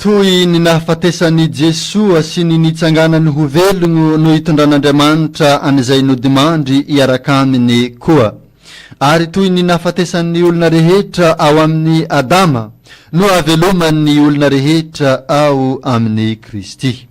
Toy ny nahafatesan'i Jesoa sy ny nitsanganany ho velogno no itondran'Andriamanitra an'izay nodimandry hiaraka Aminy koa. Ary toy ny nahafatesan'ny olona rehetra ao amin'i Adama no ahavelomany ny olona rehetra ao amin'i Kristy.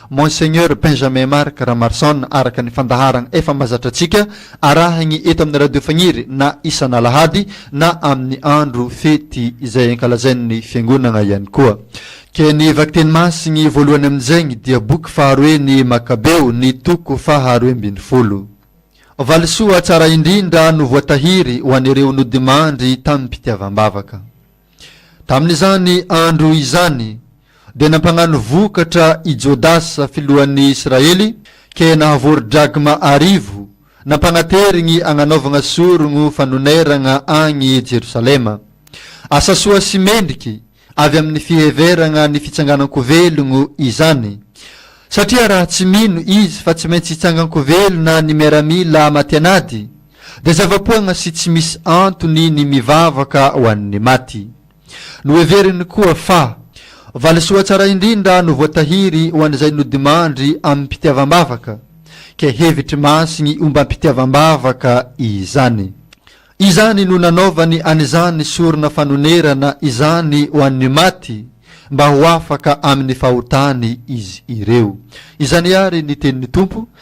Monseigneur Benjamin Marc Ramarson araka ny fandaharagna efa mazatra antsika arahagny eto amin'ny Radio Fagniry na isan'alahady na amin'ny andro fety izay ankalazain'ny fiangonagna ihany koa. Ke ny vakiteny masigny voalohany amin'izegny dia boky faharoe ny Makabeo ny toko faha roe ambin'ny folo. Valisoa tsara indrindra no voatahiry ho an'ireo nodimandry tamim-pitiavam-bavaka. Tamin'izany andro izany, dia nampagnano vokatra i Jodasa filohan'ny Israely, ke nahavory drakma arivo, nampagnaterigny agnanaovagna sorogno fanoneragna agny Jerosalema. Asa soa sy mendriky avy amin'ny fiheveragna ny fitsanganan-ko velogno izany, satria raha tsy mino izy fa tsy maintsy hitsangan-ko velona ny miaramila matianady, Dia zava-poagna sy tsy misy antony ny mivavaka ho an'ny maty. Noheveriny koa fa, valisoa tsara indrindra no voatahiry ho an'izay nodimandry amim-pitiavam-bavaka, ke hevitry masigny ombam-pitiavam-bavaka izany. Izany no nanaovany an'izany sorona fanonerana izany ho an'ny maty, mba ho afaka amin'ny fahotany izy ireo. Izany àry ny tenin'ny Tompo,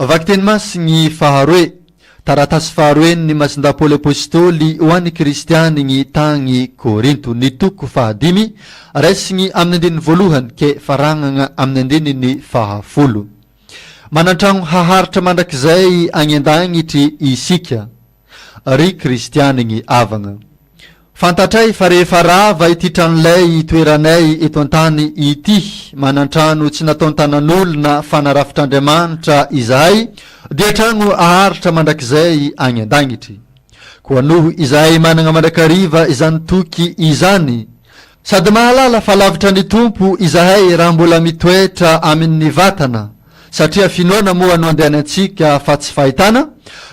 Vakiteny masigny faharoe. Taratasy faharoen' ny Masindà Paoly Apôstôly ho an' ny Kristiany gny tagny Kôrinto, ny toko fahadimy, raisigny amin' ny andininy voalohany ke faragna amin' ny andininy fahafolo. Manan-tragno haharitra mandrakizay agny an-dagnitry isika. Ry kristianigny havagna, fantatray fa rehefa rava ity tranolay itoeranay eto an-tany ity, manan-trano tsy nataon-tanan'olona fa narafitr'Andriamanitra izahay, dia tragno haharitra mandrakizay agny an-dagnitry. Koa noho izahay managna mandrakariva izany toky izany, Sady mahalala fa lavitra ny Tompo izahay raha mbola mitoetra amin' ny vatana, satria finoana moa no andehanantsika fa tsy fahitana,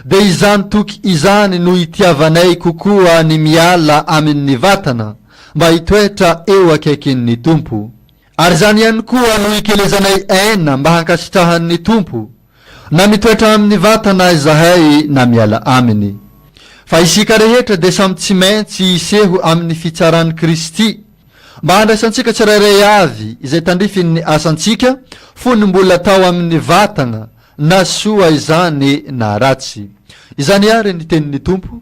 dia izany toky izany no itiavanay kokoa ny miala amin' ny vatana mba hitoetra eo akaikin' ny Tompo. Ary izany ihany koa no ikelezanay aina mba hankasitrahan' ny Tompo. Na mitoetra aminy vatana izahay na miala aminy. Fa isika rehetra dia samy tsy maintsy hiseho amin'ny fitsaran'i Kristy, mba handraisantsika tsirairay avy izay tandrifin'ny asantsika fony mbola tao amin'ny vatana, na soa izany na ratsy. Izany àry ny tenin'ny Tompo,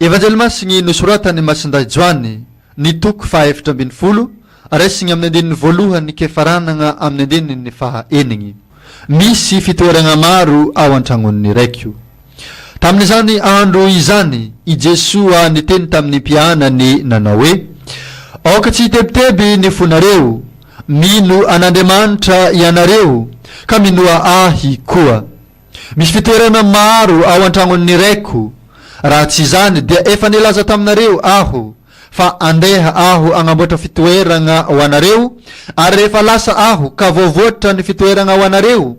Evanjely Masiny nosoratan'i Masindahy Joany, ny toko fahaefatra ambin'ny folo, raisiny amin'ny andininy voalohany ke faranana amin'ny andininy faha enigny. Misy fitoeragna maro ao an-tragnon'ny Raiko. Tamin'izany andro izany, i Jesoa niteny tamin'ny mpianany nanao hoe, Aoka tsy hitebiteby ny fonareo. Mino an'Andriamanitra ianareo, ka minoa Ahy koa. Misy fitoerana maro ao an-tragnon'ny Raiko, raha tsy izany dia efa nilaza taminareo Aho fa handeha Aho hagnamboatra fitoeragna ho anareo, ary rehefa lasa Aho ka voavoatra ny fitoeragna ho anareo,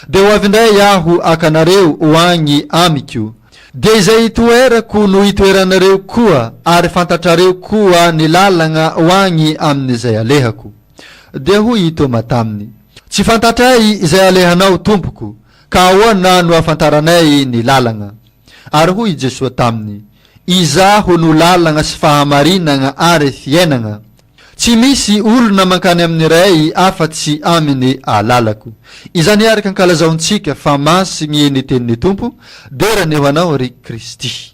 dia ho avy indray Aho haka anareo ho agny Amiko, dia izay hitoerako no hitoeranareo koa, ary fantatrareo koa ny lalagna ho agny amin'izay alehako. Dia hoy i Tôma taminy, Tsy fantatray izay alehanao, Tompoko, ka ahoana no ahafantaranay ny lalagna? Ary hoy i Jesoa taminy, Izaho no lalagna sy fahamarinagna ary fiainagna. Tsy misy olona mankany amin'ny Ray afa-tsy amin'ny alalako. Izany araka ankalazaontsika fa masigny ny tenin'ny Tompo, Dera ny ho anao, ry Kristy.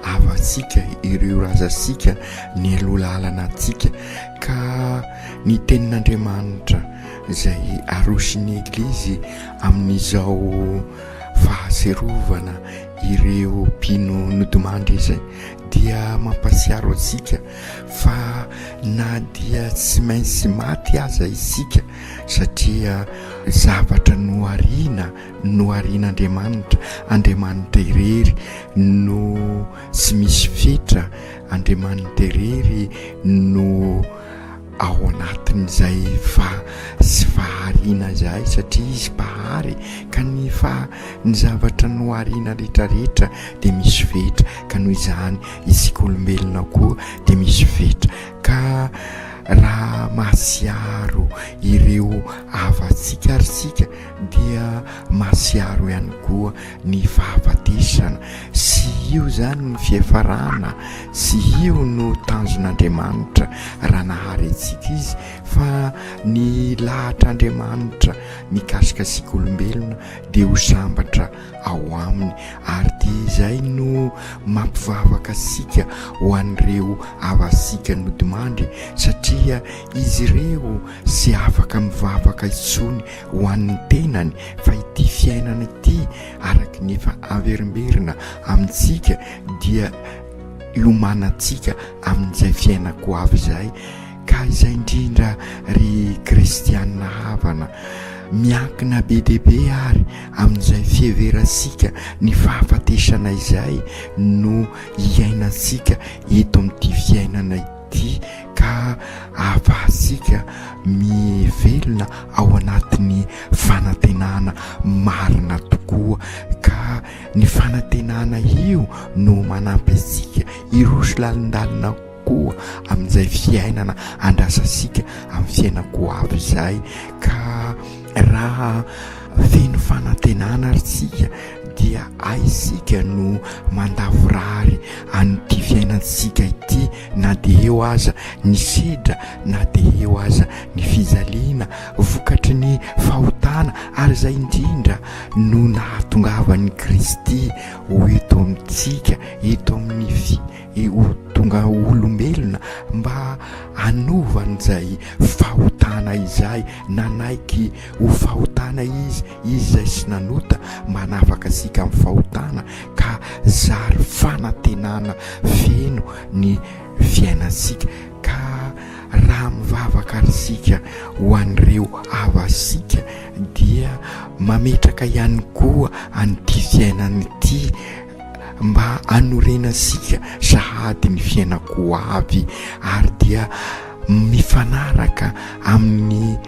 havantsika, ireo razantsika nialoha lalana antsika ka ny tenin'Andriamanitra izay aroson'ny Eglizy amin'izao fahatsiarovana ireo mpino nodimandry izay dia mampatsiaro antsika fa na dia tsy maintsy maty aza isika satria zavatra nohariana Noharian'Andriamanitra, Andriamanitra irery no tsy misy fetra, Andriamanitra irery no ao anatin'izay fa sy fahariana izay satria izy mpahary ka ny fa ny zavatra nohariana retraretra dia misy fetra ka noho izany isika olombelona koa dia misy fetra ka raha mahasiaro ireo havantsika ary sika dia masiaro ihany koa ny fahafatesana, sy io izany no fiafarana, sy io no tanjon'Andriamanitra raha nahary antsika Izy, fa ny lahatr'Andriamanitra mikasika antsika olombelona dia ho sambatra ao Aminy, ary dia izay no mampivavaka antsika ho an'ireo havantsika nodimandry, satria izy ireo tsy afaka mivavaka intsony ho an'ny tenany fa ity fiainana ity araka ny efa averimberina amintsika dia iomanantsika amin'izay fiainako ho avy izay ka izay indrindra ry kristianina havana miankina be dia be ary amin'izay fiheverantsika ny fahafatesana izay no hiainantsika eto amin'ity fiainana ity ity ka ahafahantsika mivelona ao anatin'ny fanantenana marina tokoa ka ny fanantenana io no manampy antsika hiroso lalindalina koa amin'izay fiainana andrasantsika amin'ny fiainan-ko avy izay ka raha Feno fanantenana ary tsika dia aisika no mandavorary an'ity fiainantsika ity na dia eo aza ny sedra na dia eo aza ny fijaliana vokatry ny fahotana ary izay indrindra no nahatongavan'i Kristy ho eto amintsika eto amin'ny fi ho tonga olombelona mba hanova an'izay fahotana izay nanaiky Ho fahotana izy, izy izay sy nanota, manafaka antsika amin'ny fahotana ka zary fanantenana feno ny fiainantsika. Ka raha mivavaka isika ho an'ireo havasika dia mametraka ihany koa an'ity fiainana ity mba hanorenantsika sahady ny fiainako ho avy ary dia mifanaraka amin'ny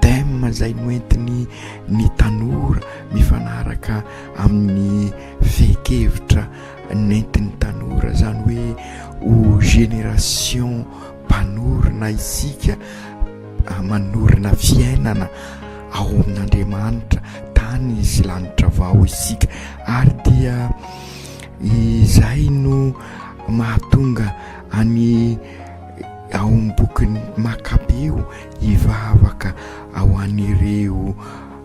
Thème izay noentiny ny tanora mifanaraka amin'ny fehin-kevitra nentin'ny tanora, izany hoe ho génération mpanorina isika, manorina fiainana ao amin'Andriamanitra, tany sy lanitra vao isika ary dia izay no mahatonga an'i ao amin'ny bokin'i Makabeo. Hivavaka ho an'ireo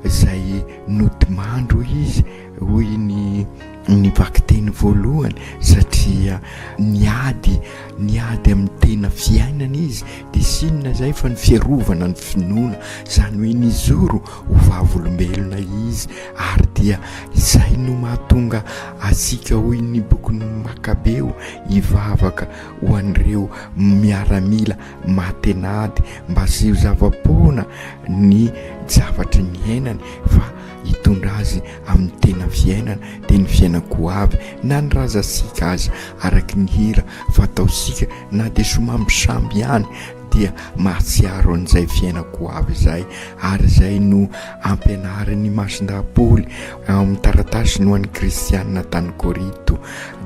izay nodimandry, hoy izy, hoy ny ny vakiteny voalohany, satria niady, niady amin'ny tena fiainana izy, dia tsy inona izay fa ny fiarovana ny finoana, izany hoe nijoro ho vavolombelona izy, ary dia izay no mahatonga antsika, hoy ny bokin'ny Makabeo, hivavaka ho an'ireo miaramila Matenady mba tsy ho zava-poana ny zavatry ny iainany fa hitondra azy amin'ny tena fiainana dia ny fiainan-koavy na ny razantsika aza araka ny hira fataontsika na dia somambisamby ihany dia mahatsiaro an'izay fiainan-koavy izay ary izay no ampianarin'i Masindahy Paoly ao amin'ny taratasiny ho an'ny kristianina tany Korinto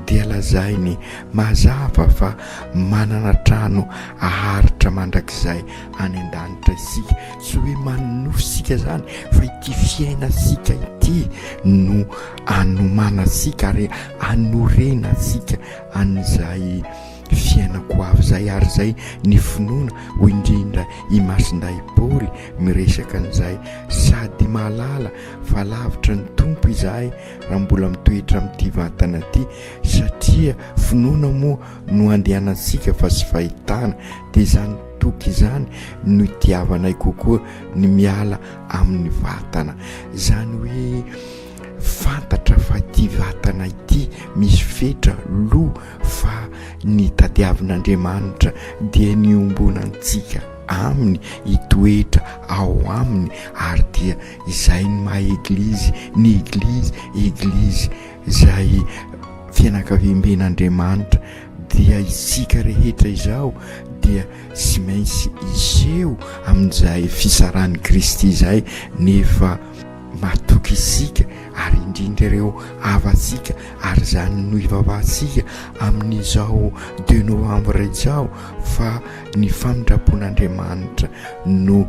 dia lazainy mazava fa Manana trano aharitra mandrakizay any an-danitra isika. Tsy hoe manonofy isika izany fa ity fiainantsika ity no anomanantsika ary anorenantsika an'izay fiainako ho avy izay ary izay ny finoana, hoy indrindra i Masindahy Paoly miresaka an'izay, sady mahalala fa lavitra ny Tompo izahay raha mbola mitoetra amin'ity vatana ity. Satria finoana moa no andehanantsika fa tsy fahitana, dia izany toky izany no itiavanay kokoa ny miala amin'ny vatana. Izany hoe fantatra fa ity vatana ity misy fetra, loha, fa ny tadiavin'Andriamanitra dia ny hiombonantsika Aminy, hitoetra ao Aminy, ary dia izay ny maha Eglizy, ny Eglizy, Eglizy. izay fianakaviamben'Andriamanitra dia isika rehetra izao dia tsy maintsy hiseho amin'izay fisaran'i Kristy izay nefa matoky isika ary indrindra ireo havantsika ary izany no ivavahantsika amin'izao deux novembre izao fa ny famindram-pon'Andriamanitra no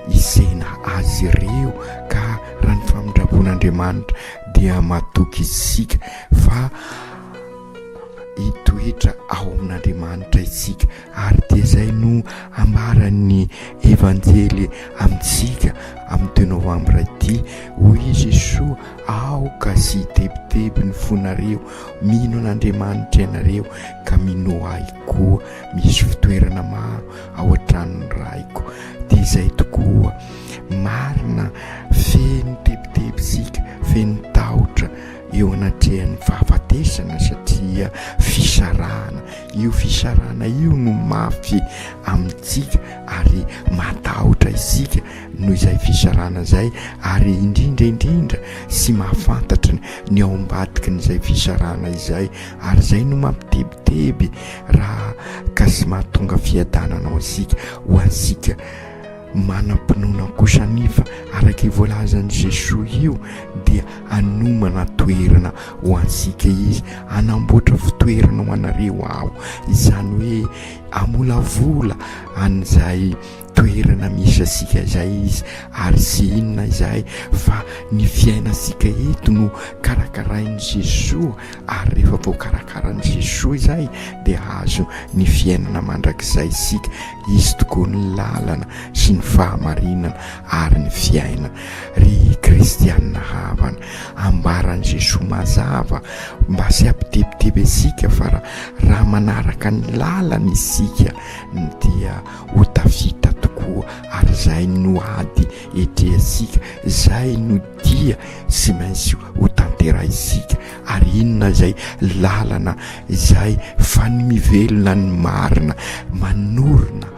hisehina azy ireo ka raha ny famindram-pon'Andriamanitra dia matoky isika fa hitoetra ao amin'Andriamanitra isika ary dia izay no ambaran'ny Evanjely amintsika amin'ny deux novambra ity hoy i Jesoa aoka sy hitebiteby ny fonareo mino an'Andriamanitra ianareo ka minoa ahy koa misy fitoerana maro ao an-tranon'ny Raiko. Dia izay tokoa, marina, feno tebiteby isika, feno tahotra eo anatrehan'ny fahafatesana satria fisarahana, io fisarahana io no mafy amintsika ary matahotra isika noho izay fisarahana izay ary indrindra indrindra sy mahafantatra ny ao ambadikin'izay fisarahana izay ary izay no mampitebiteby Raha ka sy mahatonga fiadanana ho antsika, ho antsika manam-pinoana kosa anefa, araka io voalazan'i Jesoa io, dia hanomana toerana ho antsika Izy, hanamboatra fitoerana ho anareo Aho, izany hoe hamolavola an'izay toerana misy asika izay izy ary tsy inona izahay fa ny fiainantsika eto no karakarain'i Jesoa ary rehefa voakarakaran'i Jesoa izay dia hahazo ny fiainana mandrakizay isika. Izy tokoa ny lalana sy ny fahamarinana ary ny fiainana. Ry kristianina havana, ambaran'i Jesoa mazava mba tsy hampitebiteby antsika fa raha manaraka ny lalany isika dia ho tafita tokoa ary izay no ady etrehantsika, izay no dia tsy maintsy ho tanterahintsika ary inona izay lalana izay fano mivelona ny marina manorina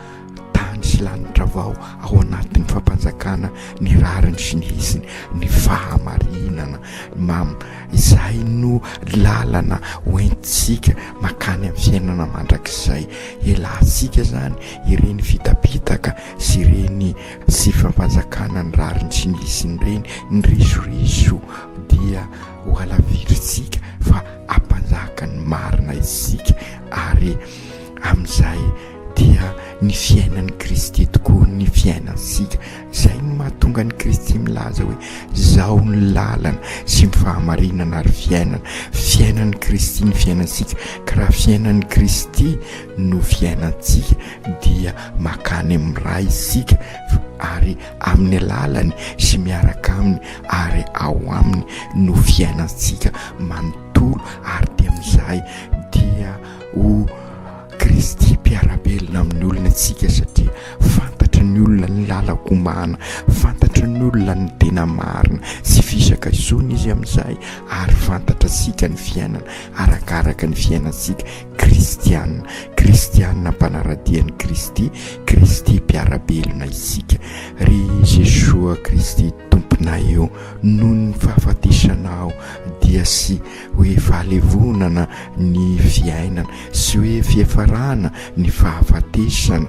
tany sy lanitra vao ao anatin'ny fampanjakana ny rariny sy ny hitsiny ny fahamarinana mam izay no lalana hoentintsika makany amin'ny fiainana mandrakizay. Ialatsika zany ireny fitapitaka sy ireny tsy fampanjakana ny rariny tsy misy ireny, ny resoreso dia ho alavirintsika fa hampanjaka ny marina isika ary amin'izay dia ny fiainan'i Kristy tokoa ny fiainantsika. Izay no mahatonga an'i Kristy milaza hoe, Izaho no lalana sy ny fahamarinana ary fiainana. Fiainan'i Kristy ny fiainantsika, ka raha fiainan'i Kristy no fiainantsika dia makany amin'ny Ray isika ary amin'ny alalany sy miaraka aminy ary ao aminy no fiainantsika manontolo ary dia amin'izay dia ho Kristy mpiara-belona amin'ny olona isika satria fantatry ny olona ny lalan-komana, fantatry ny olona ny tena marina sy fisaka isony izy amin'izay ary fantatra sika ny fiainana arakaraka ny fiainantsika kristianina, kristianina mpanaradia ny Kristy, Kristy mpiara-belona isika. Ry Jesoa Kristy Tomponay o, noho ny fahafatesanao dia sy hoe fahalevonana ny fiainana sy hoe fiafarana ny fahafatesana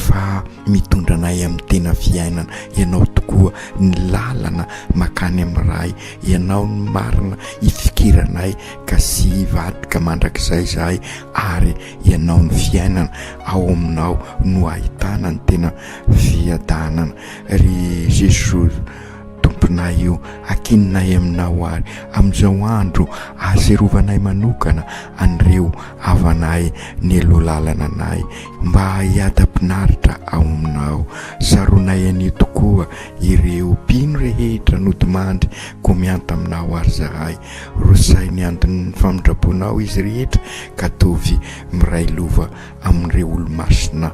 fa mitondra anay amin'ny tena fiainana ianao tokoa ny lalana makany amin'ny Ray ianao ny marina ifikiranay ka sy hivadika mandrakizay izahay ary ianao ny fiainana ao aminao no ahitana ny tena fiadanana ry Jesosy Tomponay o, ankinonay Aminao ary amin'izao andro ahatsiarovanay manokana an'ireo havanay nialoha lalana anay, mba hiadam-pinaritra ao Aminao. Saronay anie tokoa ireo mpino rehetra nodimandry koa mianta Aminao ary zahay. Rosay ny andin'ny famindra-ponao izy rehetra ka tovy miray lova amin'ireo olo-masina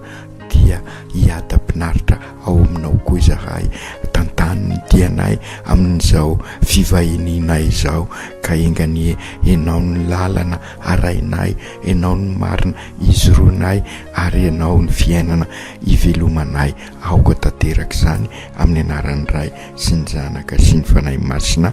dia hiadam-pinaritra ao aminao koa izahay. Tantano ny dianay amin'izao fivahinianay izao, ka enga anie Ianao ny lalana arahinay, Ianao ny marina ijoroanay, ary Ianao ny fiainana ivelomanay. Aoka tanteraka izany, amin'ny anaran'ny Ray sy ny Zanaka sy ny Fanahy Masina.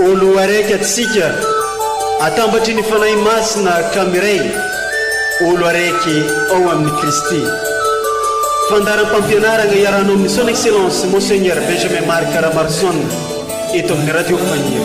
Ô Loharaiky antsika, atambatry ny Fanahy Masina ka miray, olo araiky ao amin'i Kristy. Fandaharam-pampianaragna iarahanao amin'ny Son Excellence Monseigneur Benjamin Marc Ramarson eto amin'ny Radio Fanilo.